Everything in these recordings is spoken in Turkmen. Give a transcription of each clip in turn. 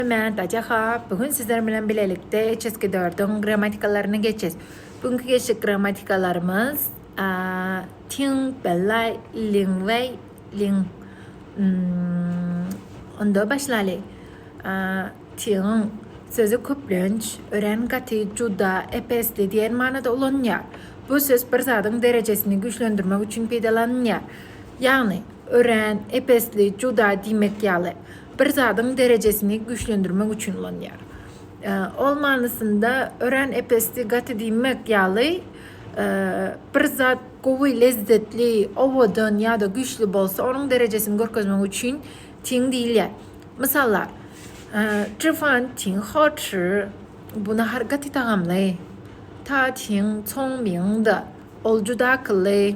Mä, Daja ha, bu gün sizler bilen bilelikde Çeskidördiň grammatikalaryny geçes. Bu günki geçjek grammatikalarymyz Tiň, Bellay, Liňway, Liň. Onda başlaly. Tiň sözi köplenç ören gaty, juda, epesli diýen manada ulanylýar. Bu söz bir zadyň derejesini güýçlendirmek üçin peýdalanylýar. Ýagny, ören, epesli, juda diýmek ýaly. bir zadyň derejesini güýçlendirmek üçin ulanýar. Ol manysynda örän epesdi, gaty diýmek ýaly, bir zat gowy, lezzetli, owadan ýa-da güýçli bolsa, onuň derejesini görkezmek üçin tiň diýilýär. Mysallar, Çy fan tiň hao çy, bu nahar gaty tagamly. Ta tiň, coň biň de, ol juda akylly.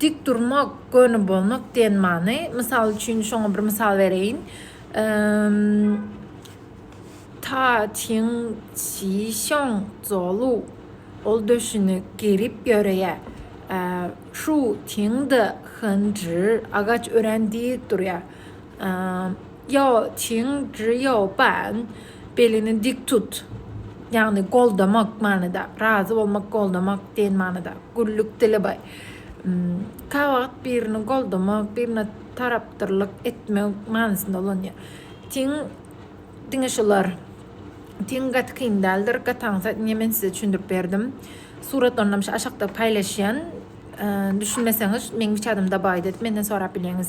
Dik durmak, göni bolmak diýen many. Mysal üçin, şoňa bir mysal bereýin. Ta çiň çi şoň zolu. Ol döşüni gerip ýöreýär. Şu çiň de hyn jir agaç örän dik durýar. Ýo çiň ýo ban, belini dik tut. Ýagny goldamak manyda, razy bolmak, goldamak diýen manyda. Güllük dili baý. Kä wagt birini goldamak, birine tarapdyrlyk etmek manysynda ulanýar. Tiň diňe şular. Tiň gaty kyn däldir. Gaty aňsat diýen men size düşündirip berdim. Suratlarynam şu aşakda paýlaşýan. Düşünmeseňiz, meň WeChat-ym da baý diýip menden sorap bilýäňiz.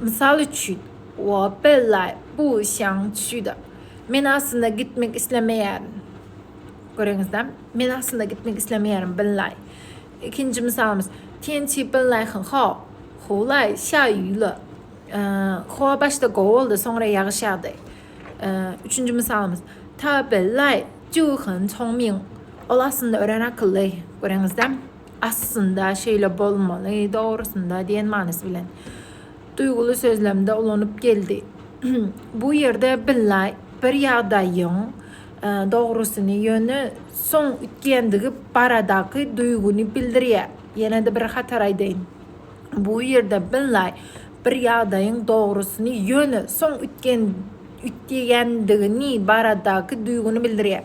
Mysal üçin, Opel-a bu işiň üçida men aslynda gitmek islemeýärin. Göreňizdä, men aslynda gitmek islemeýärin, Binlaý. Ikinji mysalymyz, Tiençi Binlaýhyň, ho, howlaý, şa ýyla. Howa başda gowy boldy, soňra ýagyş ýagdy. Üçünji mysalymyz, Ta Binlaý, Ju Hyn Çongming. Ol aslynda örän akylly. Göreňizdä? Aslynda şeýle bolmaly, dogrusynda diýen manysy bilen, duýguly sözlemde ulanyp geldi. Bu ýerde billa bir ýagdaýyň dogrusyny, ýöne soň üýtgeýändigi baradaky duýgyny bildirýär. Ýene-de bir hatar aýdaýyn. Bu ýerde billa bir ýagdaýyň dogrusyny, ýöne soň üýtgeýändigini baradaky duýgyny bildirýär.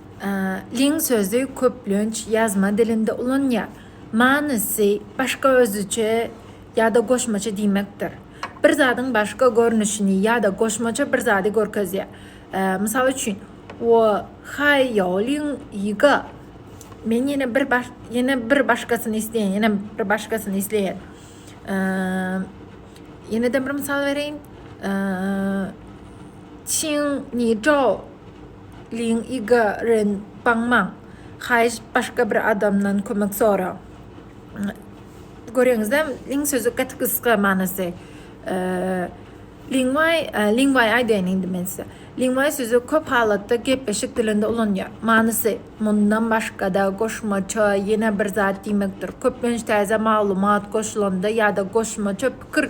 Lin sözi köplenç ýazma dilinde ulanylýar. Manysy başga özüçe ýa-da goşmaça diýmekdir. Bir zadyň başga görnüşini ýa-da goşmaça bir zady görkezýär. Mysal üçin, Wo haý ýao lin ýi ge. Men ýene bir ýene bir başgasyny isleýän, ýene bir başgasyny isleýän. Ýene-de bir mysal bereýin. Çiň ni zhao. Liň i ga ren baň maň. Haýyş başga bir adamdan kömek sora. Göreňizem liň sözi gaty gysga manysy. Liň waý, liň waý aýdaýyn indi men size. Liň waý sözi köp halatda gepleşik dilinde ulanýar. Manysy, mundan başgada goşmaça ýene bir zat diýmekdir. Köplenç täze maglumat goşulanda ýada goşmaça pikir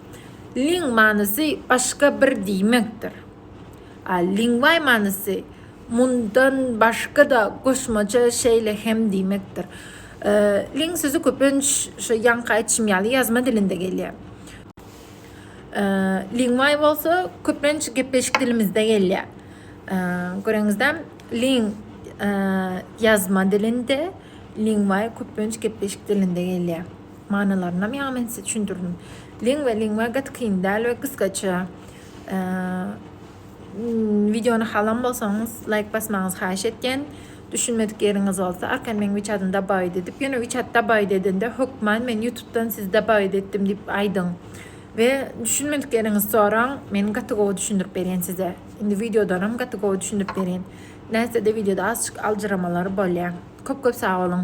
Ling manysy başga bir diýmekdir. A Lingway manysy mundan başga-da goşmaça şeýle hem diýmekdir. Ling sözi köplenç şu ýaňky aýdyşym ýaly ýazma dilinde gelýär. Lingway bolsa köplenç gepleşik dilimizde gelýär. Göreňizde Ling ýazma dilinde, Lingway köplenç gepleşik dilinde gelýär. Manylarynam ýaňy men size çündürdim. Lingwa, lingwa gaty kyn däl we gysgaça. Wideony halan bolsaňyz, laýk basmagyňyzy haýyş etýän. Düşünmedik ýeriňiz bolsa, arkaýyn meň WeChat-ym dabaýyt edip, ýöne WeChat dabaýyt edende hökman men YouTube-dan sizi dabaýyt etdim diýip aýdyň. We düşünmedik ýeriňizi soraň, men gaty gowy düşündirip berýän size. Indi wideodanam gaty gowy düşündirip berýän. Nätse-de wideoda azjyk aljyramalar bolýar. Köp-köp sag boluň.